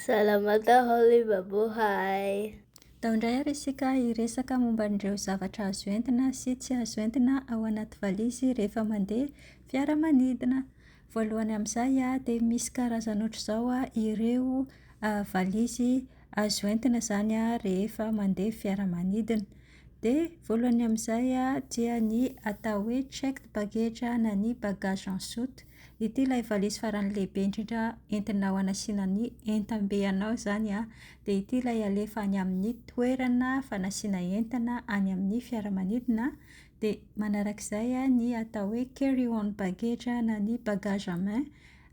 Salamata Holy Babohay! Tao indray ary isika hiresaka momba an'ireo zavatra azo entina sy tsy azo entina ao anaty valizy rehefa mandeha fiaramanidina. Voalohany amin'izay dia misy karazany ohatr'izao ireo valizy azo entina izany rehefa mandeha fiaramanidina. Dia voalohany amin'izay dia ny atao hoe checked baggage na ny bagage en soute. Ity ilay valise farany lehibe indrindra entinao hanasiana ny entam-be anao izany an. Dia ity ilay alefa any amin'ny toerana fanasiana entana any amin'ny fiaramanidina. Dia manaraka izay ny atao hoe carry on baggage na ny bagage à main.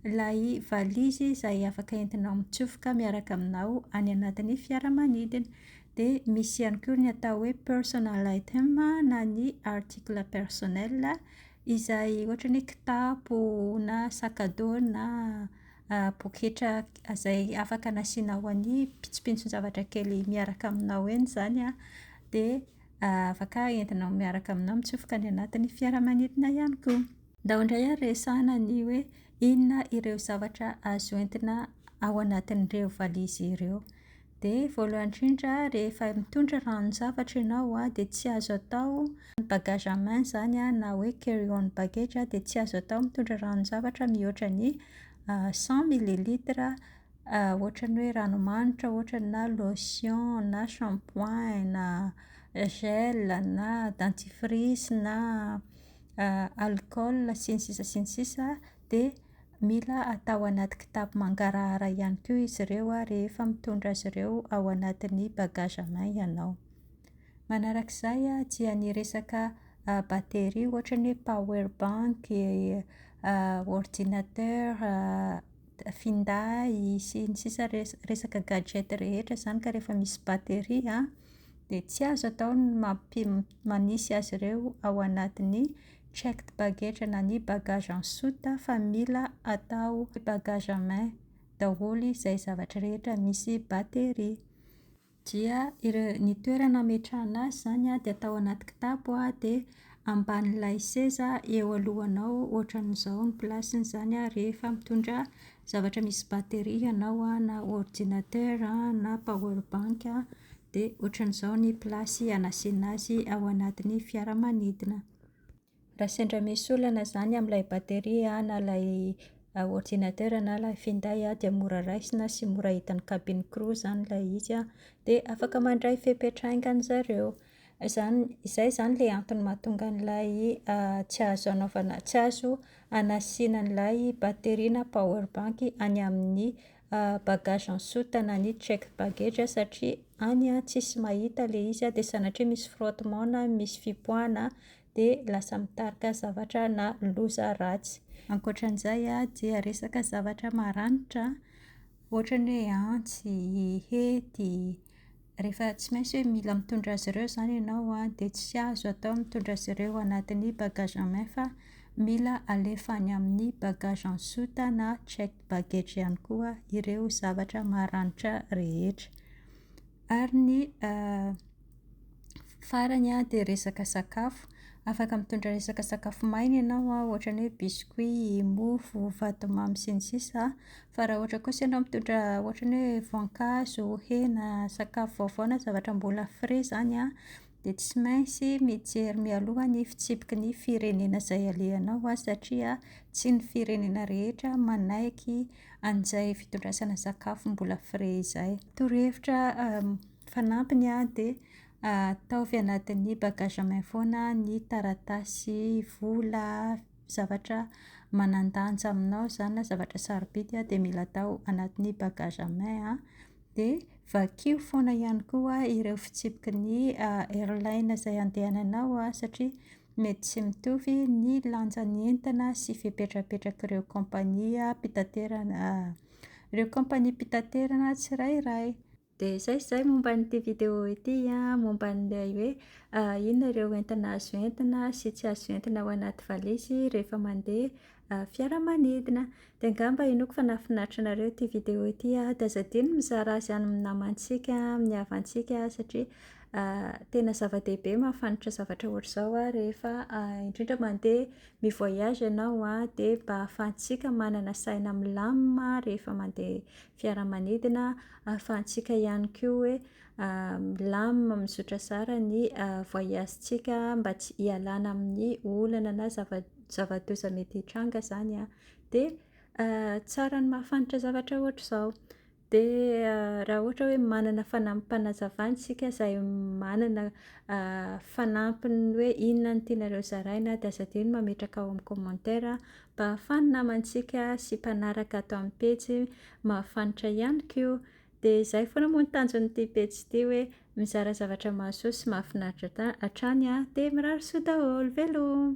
Ilay valizy izay afaka entinao mitsofoka miaraka aminao any anatin'ny fiaramanidina. Dia misy ihany koa ny atao hoe personal item na ny article personnel. izay ohatra ny hoe kitapo na sac à dos na poketra izay afaka nasiana ho an'ny pintsopintson-javatra kely miaraka aminao eny izany an, dia afaka entinao miaraka aminao mitsofoka any anatin'ny fiaramanidina ihany koa. Ndao indray ary resahina ny hoe inona ireo zavatra azo entina ao anatin'ireo valizy ireo. Dia voalohany indrindra rehefa mitondra ranon-javatra ianao dia tsy azo atao ny bagage à main izany na hoe carry on baggage dia tsy azo atao mitondra ranon-javatra mihoatra ny cent millilitres ohatran'ny hoe ranomanitra ohatra na lotion na shampoing na gel na dentifrice na alcool sy ny sisa sy ny sisa dia mila atao anaty kitapo mangarahara ihany koa izy ireo rehefa mitondra azy ireo ao anatin'ny bagage à main ianao. Manaraka izay dia ny resaka batterie ohatra ny hoe power bank, ordinateur, finday, sy ny sisa Resaka gadget rehetra izany ka rehefa misy batterie an, dia tsy azo atao ny mampi- manisy azy ireo ao anatin'ny Checked baggage na ny bagage en soute fa mila atao bagage en main daholo izay zavatra rehetra misy batterie. Dia ireo, ny toerana ametrahana azy izany an, dia atao anaty kitapo dia ambanin'ilay seza eo alohanao ohatran'izao ny place-ny izany an, rehefa mitondra zavatra misy batterie ianao an, na ordinateur an, na power bank an, Dia ohatran'izao ny place hanasiana azy ao anatin'ny fiaramanidina. Raha sendra misy olana izany amin'ilay batterie an, na ilay ordinateur na ilay finday an, dia mora raisina sy mora hitan'ny cabine crew izany ilay izy an, dia afaka mandray fepetra haingana ry zareo. Izany, izay izany ilay antony mahatonga an'ilay tsy azo anaovana, tsy azo hanasiana an'ilay batterie na power bank any amin'ny. bagage en soute na ny checked baggage a, satria any a tsisy mahita ilay izy a, dia sanatria misy frottement na misy fipoahana a, dia lasa mitarika zavatra na loza ratsy. Ankoatra an'izay a, dia resaka zavatra maranitra, ohatra ny hoe antsy, hety, Rehefa tsy maintsy hoe mila mitondra azy ireo izany ianao an, dia tsy azo atao ny mitondra azy ireo ao anatin'ny bagage en main fa mila alefa any amin'ny bagage en soute na checked baggage ihany koa ireo zavatra maranitra rehetra. Ary ny farany an, dia resaka sakafo. Afaka mitondra resaka sakafo maina ianao an, ohatra ny hoe biscuits, mofo, vatomamy sy ny sisa an, Fa raha ohatra kosa ianao mitondra ohatra ny hoe voankazo, hena, sakafo vaovao na zavatra mbola frais izany an, dia tsy maintsy mijery mialoha ny fitsipiky ny firenena izay alehanao an, satria tsy ny firenena rehetra manaiky an'izay fitondrasana sakafo mbola frais izay. Torohevitra fanampiny an, dia ataovy anatin'ny bagage à main foana ny taratasy, vola, zavatra manan-danja aminao izany na zavatra sarobidy an, dia mila atao anatin'ny bagage à main an, dia vakio foana ihany koa ireo fitsipiky ny airline izay andehananao an, satria mety tsy mitovy ny lanjan'ny entana sy fipetrapetrak'ireo kaompania mpitaterana ireo kaompaniam-pitaterana tsirairay. Dia izay izay momba an'ity vidéo ity an, momba an'ilay hoe inona ireo entana azo entina sy tsy azo entina ao anaty valizy rehefa mandeha fiaramanidina. Dia angamba inoako fa nahafinaritra anareo ity vidéo ity an, dia aza adino ny mizara azy any amin'ny namantsika, amin'ny havantsika satria tena zava-dehibe ny mahafantatra zavatra ohatr'izao an, rehefa indrindra mandeha mi-voyage ianao an, dia mba ahafahantsika manana saina milamina rehefa mandeha fiaramanidina ahafahantsika ihany koa hoe milamina mizotra zara ny voyage tsika mba tsy hialana amin'ny olana na zava- zava-doza mety hitranga zany an, de tsara ny mahafantra zavatra ohatr'izao, de raha ohatra hoe manana fanampim-panazavana isika izay manana fanampiny hoe inona no tianareo zaraina de aza adino mametraka ao amin'ny commentaire Mpahafany namantsika sy mpanaraka ato amin'ny pejy mahafanitra ihany koa. Dia izay foana moa ny tanjon'ity pejy ity hoe mizara zavatra mahasoa sy mahafinaritra hatrany an! Dia mirary soa daholo. Veloma.